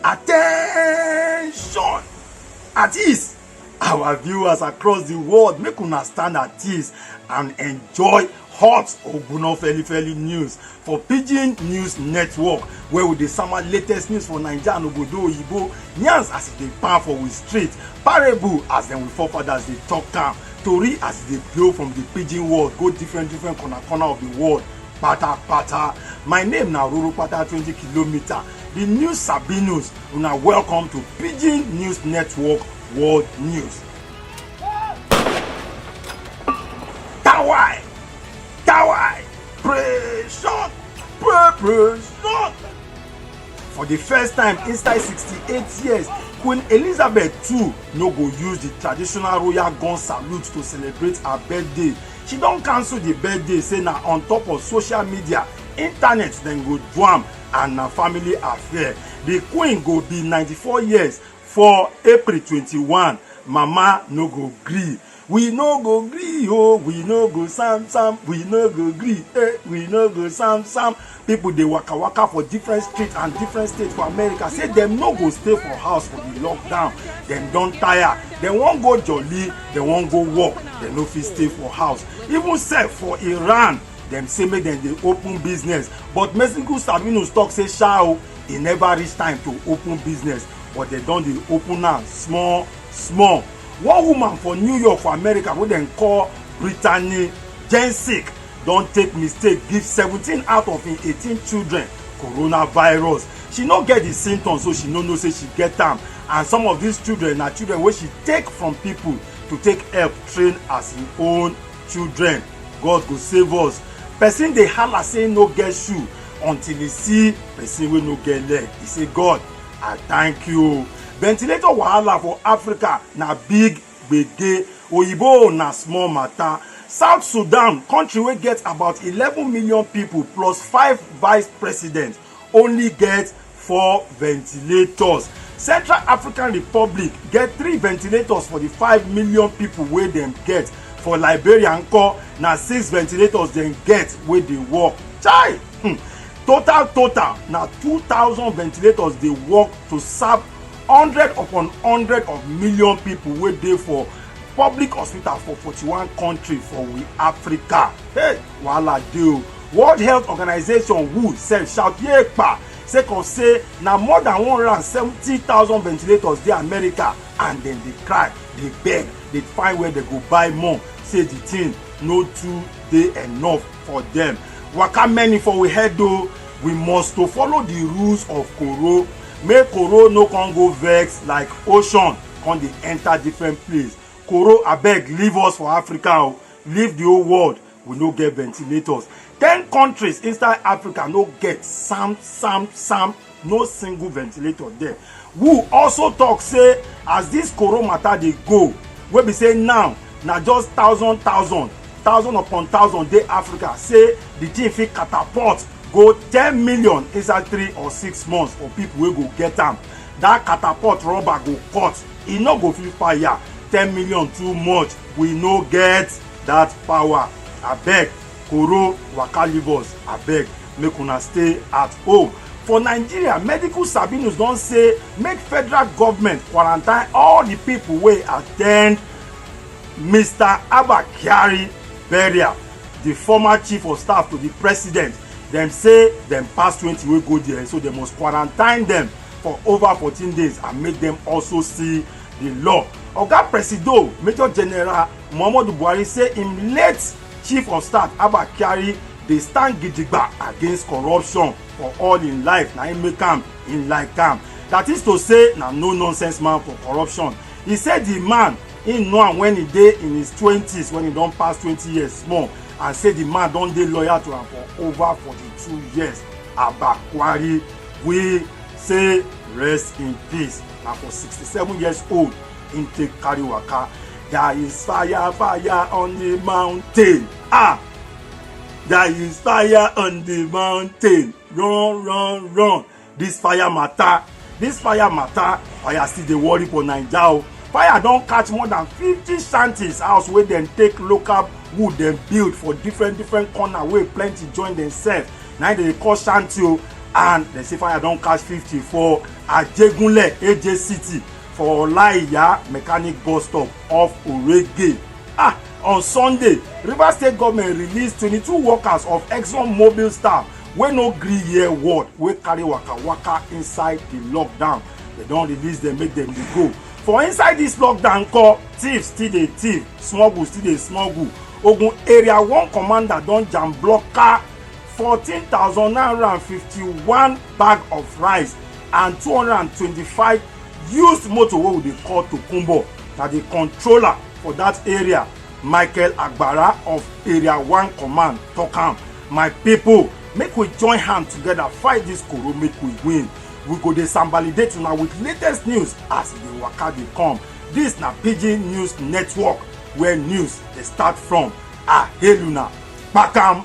attention at ease our viewers across the world make una stand at ease and enjoy hot ogbonna feli feli news for pidgin news network where we dey sama latest news for naija and obodo oyibo yarns as e dey pan for we street parable as dem we forefathers dey talk am tori as e dey blow from the pidgin world go different different corner corner of the world patapata my name na roro pata twenty kilometre the news sabi news una welcome to pidgin news network world news. Pressure! Pressure! For the first time inside 68 years, Queen Elizabeth II no go use the traditional royal gun salute to celebrate her birthday. She don cancel the birthday say na on top of social media, internet dem go do am and na family affair. The queen go be 94 years for April 21. Mama no go gree. We no go gree oh, we no go sam sam, we no go gree eh, we no go sam sam. People dey waka waka for different streets and different states for America say dem no go stay for house for the lockdown. Dem don tire, dem wan go jolly, dem wan go work, dem no fit stay for house. Even sef for Iran, dem say make dem dey open business but Mexico Sabinus talk say sha o, e never reach time to open business but dem don dey open am small small one woman for new york for america wey dem call brittany jensick don take mistake give seventeen out of im eighteen children coronavirus she no get di symptoms so she no know say she get am and some of dis children na children wey she take from pipo to take help train as im own children god go save us person dey hala say no get shoe until e see person wey no get leg e say god I thank you. Ventilator wahala for Africa na big gbege. Oyibo na small matter. South Sudan, country wey get about eleven million people plus five vice presidents, only get four ventilators. Central African Republic get three ventilators for the five million people wey dem get. For Liberia nko, na six ventilators dem get wey dey work. Chai! Hmm. total total na 2000 ventilators dey work to serve hundred upon hundred of million people wey dey for public hospital for 41 country for we africa hey wahala dey o world health organization who sef shout yepa sake of say na more than 170000 ventilators dey america and dem dey cry dey beg dey find where dem go buy more say the thing no too dey enough for dem waka many for we head o we must to follow the rules of koro make koro no come go vex like ocean come dey enter different place koro abeg leave us for africa o leave the whole world we no get ventilators ten countries inside africa no get sam sam sam no single ventilator there who also talk say as this coro matter dey go wey be say now na just thousand thousand thousand upon thousand dey africa say the thing fit catapult go ten million inside three or six months for people wey go get am that catapult rubber go cut e no go fit fire ten million too much we no get that power abeg Koro waka leave us abeg make una stay at home. For Nigeria, medical sabinus don say make federal government quarantine all the people wey attend Mr. Abba Kyari burial, the former chief of staff to the president. Dem say dem pass twenty wey go there so dem must quarantine dem for over fourteen days and make dem also see the law. Oga Presido, Major General Muhammadu Buhari say im late chief of staff abba kyari dey stand gidigba against corruption for all im life na im make am im like am that is to say na no nonsense man for corruption he say the man im know am when he dey in his twenties when he don pass twenty years small and say the man don dey loyal to am for over forty-two years abba kyari wey say rest in peace na for sixty-seven years old him take carry waka there is fire fire on the mountain ah there is fire on the mountain run run run this fire matter this fire matter fire still dey worry for naija o fire don catch more than fifty shanties house wey dem take local wood dem build for different different corner wey plenty join themselves na dem dey call shanty o and dem say fire don catch fifty for ajegunle aj city for Olaiya mechanic bus stop off Orege. Ah, on Sunday, Rivers State government release 22 workers of Exxon Mobil staff wey no gree hear word wey carry waka waka inside the lockdown. They don release them make them dey go. For inside this lockdown call, thieves still dey thief, smuggle still dey smuggle. Ogun area one commander don jam block car 14,951 bag of rice and 225 used motor wey we dey call tokunbo na di controller for dat area michael agbara of area one command tok am my pipo make we join hand togeda fight dis koro make we win we go dey sambalidate una with latest news as e dey waka dey come dis na pidgin news network where news dey start from aheluna kpakam